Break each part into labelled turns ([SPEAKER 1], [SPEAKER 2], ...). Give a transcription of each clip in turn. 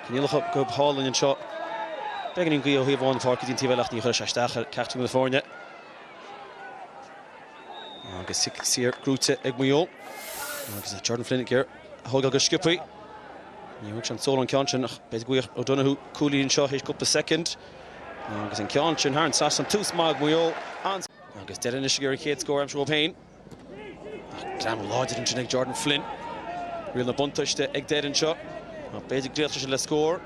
[SPEAKER 1] Coinníollacha go hálainn anseo. Beagáinín gaoth ó thaobh amháin an pháirc go dtí an taobh eile ach ní chuirfidh sé isteach ar ceachtar de na foirne. Agus cic saor gnóthaithe ag Maigh Eo. Agus Jordan Flynn ag thógáil go sciopthaí. Ní bhfuair sé an cúl ón ceann sin ach beidh Ryan O'Donoghue cúlaí anseo théis cúpla soicind. Agus an ceann sin thar an trasnán. Tús maith ag Maigh Eo. Agus Doire anois ar an chéad scór aimsithe dhóibh féin. Greamú láidir ansin ag Jordan Flynn. Riail na buntaiste ag Doire anseo. Ach b'fhéidir go n-éireoidh sé le scór.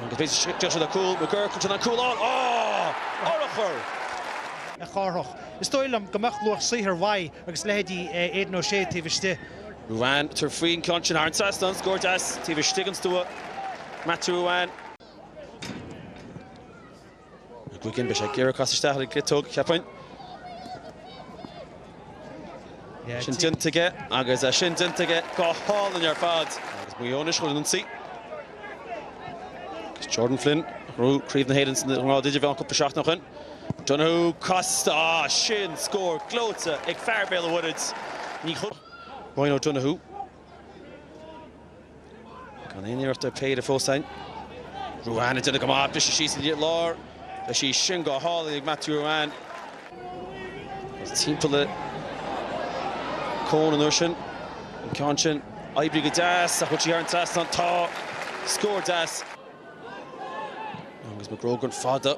[SPEAKER 1] Agus b'fhéidir go n-éireoidh sé le cúl. McGuirk ansin an cúl ann. Á! Ar a chorr! a chárthach. Is dóigh liom go mbeadh luach saothair mhaith ag leithéidí Aidan O'Shea taobh istigh. Ruane tabhairt faoin ceann sin thar an trasnán agus scór deas taobh istigh den stua. Matthew Ruane. McGuigan, beidh sé ag iarraidh casadh isteach ar an gciotóg, cheapfainn. Sin déanta aige agus é sin déanta aige go hálainn ar fad. Agus Maigh Eo anois chun an ionsaí. Agus Jordan Flynn, ghnóthaigh craobh na hÉireann sa ngrád idirmheánach cúpla seachtain ó shoin. Donoghue, casta, ah sin scór gleoite ag fear Bhéal an Mhuirthead. Ní chuirfeadh Ryan O'Donoghue Gan aon iarracht ar péire fós ainn. Ruane ag déanamh go maith, briseadh síos tríd an lár. Tá sí sin go hálainn ag Matthew Ruane. Is timpeall le Coen an uair sin. An ceann sin, oibrigh go deas, ach bhfuil sí thar an trasnán? Tá! Scór deas. Agus McGrogan fada.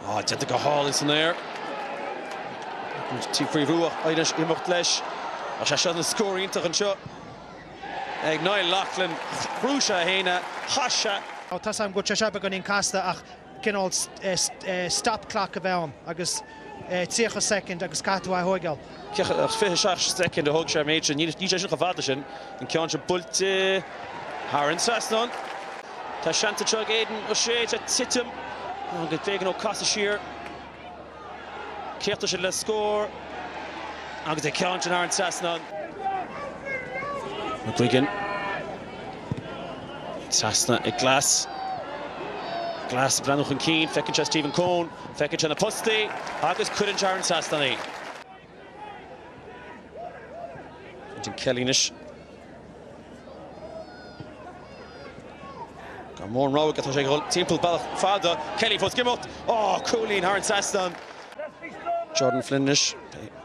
[SPEAKER 1] Ah, déanta go hálainn san aer. Tá sé faoi bhrú ach ag imeacht leis. Tá sé seo ina scór iontach anseo ag Niall Loughlin. Cruthaigh sé a haon a chaith sé. Tá sam go dtí seo beagáinín casta ach cineál stop clock a bheith ann agus 30 soicind agus caithfidh tú é a thóigeáil. 27 soicind a thóg sé ar méid sin. Níl sé sin chomh fada sin. An ceann seo buailte thar an trasnán. Tá seans anseo ag Aidan O'Shea ag titim. Ná go bhféachann Ó Cathasaigh siar. Críochnaíonn siad le scór agus an ceann sin thar an trasnán. McGuigan. Trasna ag Glass. Glass breathnú chun cinn, feiceann sé Stephen Coen, feiceann sé na postaí agus cuireann sé thar an trasnán í. Quentin Kelly anois. Gan mórán rogha aige, tá sé ag dhul timpeall bealach fada. Kelly fós ag imeacht. Ó, cúilín thar an trasnán. Jordan Flynn anois.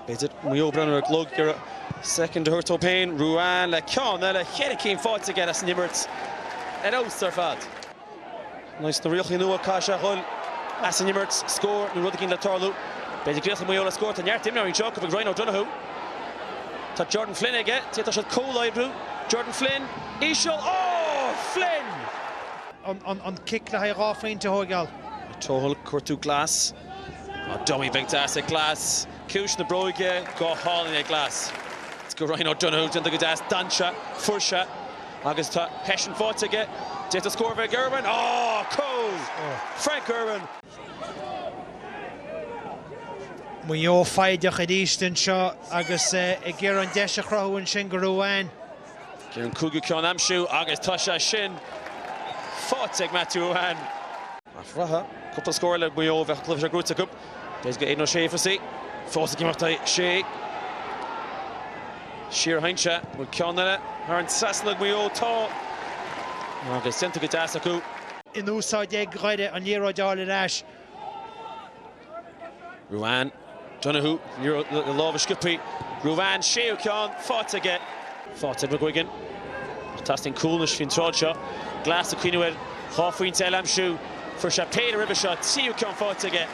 [SPEAKER 1] B'fhéidir Maigh Eo breathnú ar an gclog, iarraidh soicind a thabhairt dóibh féin. Ruane le ceann eile, ceithre cinn faighte aige as an imirt. Ar fheabhas ar fad. Sna rialacha nua, caithfidh sé a dhul ar an imirt, scór nó rud éigin a tharlú. B'fhéidir ag iarraidh Maigh Eo le scór. Tá neart imreoirí anseo, cá bhfuil Ryan O'Donoghue. Tá Jordan Flynn aige. D'fhéadfadh siad comhoibriú. Jordan Flynn, íseal. Oh! Flynn! An cic le haghaidh dhá phointe a thóigeáil. Tohill, ag cuartú Glass. Tá dummy bheag deas ag Glass. Ciumhais na bróige, go hálainn ag Glass. Go Ryan O'Donoghue, déanta go deas, dainséar, fairsing. Agus tá pas faighte aige, d'fhéadfadh scór a bheith ag Irwin. Ó! Cúl! Frank Irwin! Maigh Eo foighdeach arís anseo agus ag iarraidh an deis a chruthú ansin go Ruane. Deis an cúigiú ceann a aimsiú agus tá sé sin faighte ag Matthew Ruane. Ag breathnú, cúpla scór le Maigh Eo a bheadh cluiche seo buaite acu. Deis go Aidan O'Shea. Fós ag imeacht O'Shea. Siar a thiontaigh sé. An bhfuil ceann eile thar an trasnán ag Maigh Eo. Tá. Agus déanta go deas acu. in úsáid ag Doire an liathróid a fháil ar ais. Ruane. Donoghue. Liathróid le lámh a sciob Ruane. Séú ceann faighte aige. Faighte ag McGuigan ach teastaíonn cúl anois faoin tráth seo. Glass ag cuimhniú ar dhá phointe eile a aimsiú. Fuair sé péire roimhe seo, tríú ceann faighte aige.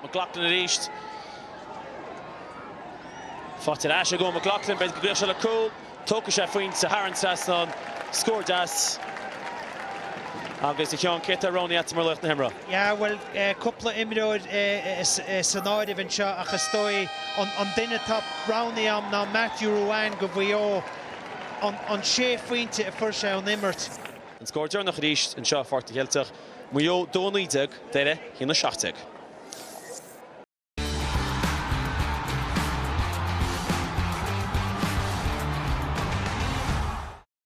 [SPEAKER 1] McLaughlin arís. Faighte ar ais ag Eoin McLaughlin. B'fhéidir go gcuirfeadh seo le cúl. Tógfaidh sé a phointe thar an trasnán. Scór deas agus cén ceann atá roghnaithe ag Aodán mar laoch na himeartha. Yeah, bhuel, cúpla imreoir san áireamh anseo ach is dóigh an duine atá roghnaithe agam ná Matthew Ruane do Mhaigh Eo, an sé phointe a fuair sé ón imirt. An scór deireanach arís anseo i bPáirc na gCeilteach, Maigh Eo 2 19, Doire, 1 17.